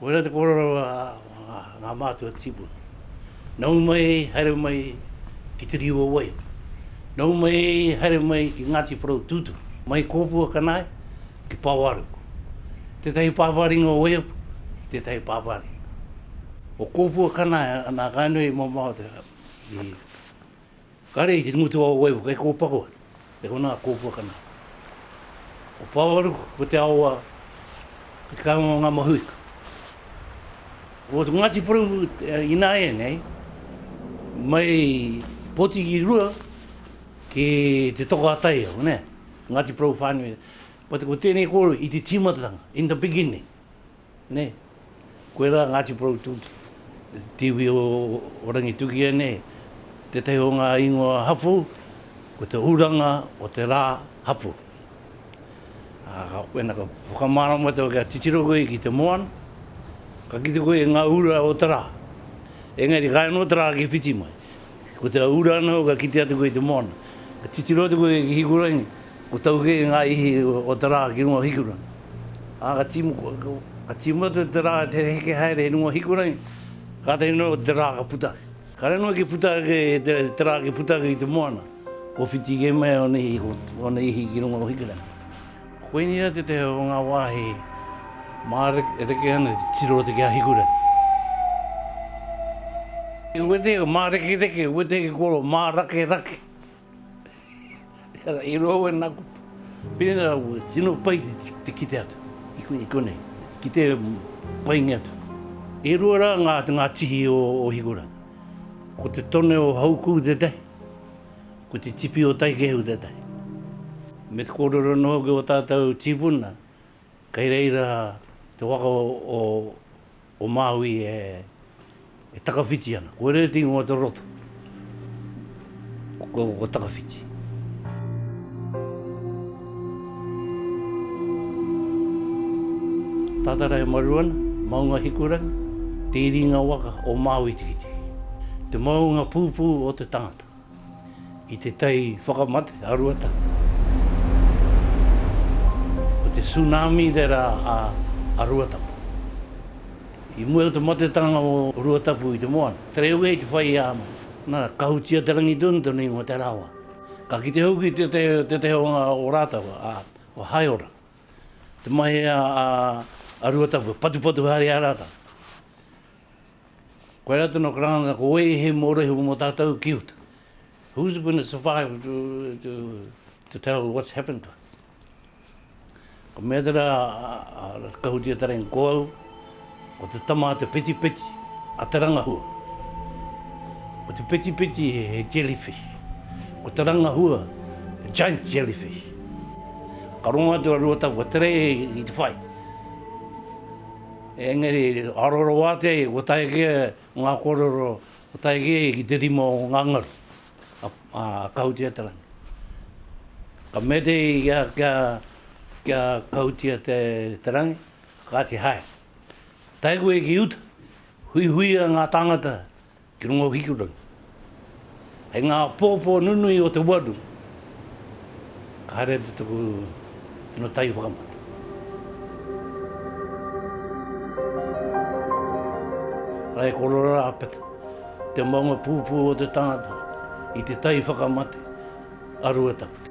Koira te kōrero a ngā mātua tīpuna. Nau mai, haere mai ki Te Rīu o Waiho. Nau mai, haere mai ki Ngāti Porou Tūturu. Mai Kōpua Kanae ki Pāwāruku. Tētahi pāpā ringa o Waiho, tētahi pāpā ringa o Kōpua Kanae, nā Kāinui i mamao te rā, i Kare i te ngutu a Oewa kei Kōpako, e konā Kōpuakana. Ko Pāwaruku ko te aoa ki te kāinga o ngā mahuika. Ko Ngāti Porou ināianei mai Potiki rua ki te toko a Taiao, nē, Ngāti Porou whānui. Ko tēnei kōrero i te tīmatatanga, in the beginning. Nē. Koe rā Ngāti Porou Tūti, Tiwi o Rangitukia nei, tētahi o ngā ingoa hapū, ko te uranga o te rā hapū. Ā, wēnā ka whakamārama koe kia titiro koe ki te moana, ka kite koe i ngā ura o te rā. Engari, ka haere noa te rā ki whiti mai. Ko te ura anō ka kite atu koe i te moana. Ka titiro atu koe ki Hikurangi, ko tau kē ngā ihi o te rā ki runga o Hikurangi. Ā, ka tīma, ka tīma atu te rā te heke haere i runga o Hikurangi, kātahi noa te rā ka puta ake. Kāre noa ki puta ake te, te rā ki puta ake i te moana, kua whiti kē mai ōna ihi, ōna ihi ki runga o Hikurangi. Koinei rā tētahi o ngā wāhi māreke ana te tiro o te Keahikurangi. I wetei ko mārekereke, i wetei ki koro mārakerake. I roa au e nā kupu. Pēnei rā, kua tino pai te kite atu i konei, ki te painga atu. E rua rā ngā tihi o Hikurangi. Ko te tone o Haukū tētahi. Ko te tipi o Taikehu tētahi. Me te kōrero anō hoki o tātou tīpuna, kei reira te waka o Māui e takawhiti ana. Ko Rēti ingoa te roto, ko Takawhiti. Tatara e maru ana, maunga Hikurangi, te iringa waka o Māui-tikitiki, te maunga pūpū o te tangata, i te tai whakamate a Ruatapu. Ko te tsunami te rā a Ruatapu. I mua i te matetanga o Ruatapu i te moana, te reo ia i te whai i a Ama, nā, kahutia te rangi tonu, te nuinga o te rawa. Ka kite hoki tētehi o ngā o rātau a Haeora, te mahi a Ruatapu, patupatu haere i a rātau. Koe rā tonu karanga, ko wei he mōrehu mō tātau ki uta. Who's going to survive to tell what's happened to us? Ko mea tera a Ratahutia Tareng ko au, ko te tama a te petipeti, a te rangahua. Ko te petipeti he jellyfish, ko te rangahua he giant jellyfish. Ka rongo atu a Ruatapu tere i te whai. Engari, aroro wātea ia, kua tae ki ia ngā kōrero, kua tae ki ia ki te rima o ngā ngaru. a Kautia te rangi. Ka mete ia kia, kia Kautia te, te rangi, kāti hae. Tae koe ki uta, huihuia ngā tāngata ki runga o Hikurangi. Hei ngā pōpō nunui o te waru, Haere atu taku tino tahi whakamata. Rae korero rapeta, te maunga pūpū o te tangata i te tahi whakamate a Ruataputa.